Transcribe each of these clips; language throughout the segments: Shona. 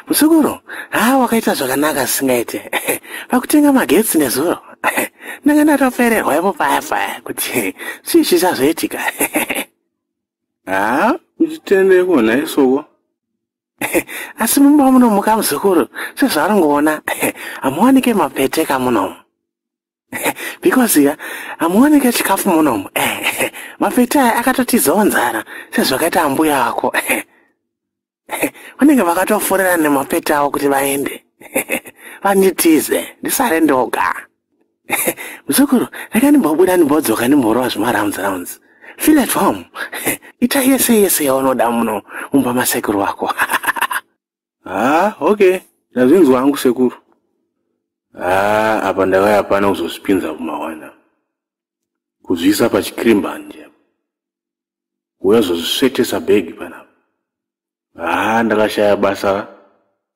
muzukuru haa wakaita zvakanaka zvisingaite pakutenga magetsi nezuro ndanga ndatofererwa ipo paya paya kuti zvii zvisazoitika haa uchitendeko nhaisoko asi mumba munomuka muzukuru sezvaringoona hamuwanike mapeteka munomu because ya hamuoneke chikafu munomu mafeti aya akatotizawo nzara sezvakaita ambuya ako vanenge vakatofurira nemafeti avo kuti vaende vanditize ndisare ndoga muzukuru rega ndimbobuda ndimbodzoka ndimborowa zvemarounds rounds feel at home ita yese yese yaunoda muno mumba masekuru wako haa okay ndazvinzwa hangu sekuru haa apa ndave hapana kuzozvipinza kumawana kuzviisa pachikrimbanje apa uya zozvisvetesa bhegi panapa haa ndakashaya basa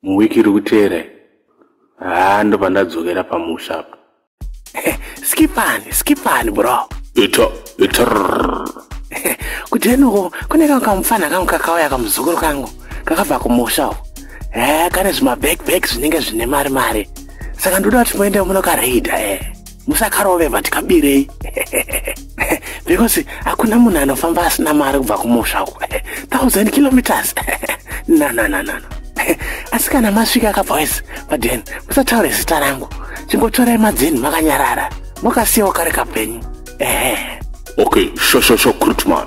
muwiki iri kuteera haa ndopandadzokera pamusha apa Eh, skipani skipani bro ita ita kutenuko kune kangu kamufana kangu kakauya kamuzukuru kangu kakabva kumusha uko e eh, kane zvimabackback zvinenge zvine mari mari saka ndoda kuti muende munokareida e eh. musakarove vati kabirei because hakuna munhu anofamba asina mari kubva kumusha uku thousand kilometers nanananana asi kana masvika ka boys paden musataure zita rangu chingotorai madzeni makanyarara mokasiyawo kari kapenyu ehe okay shoshoshokritman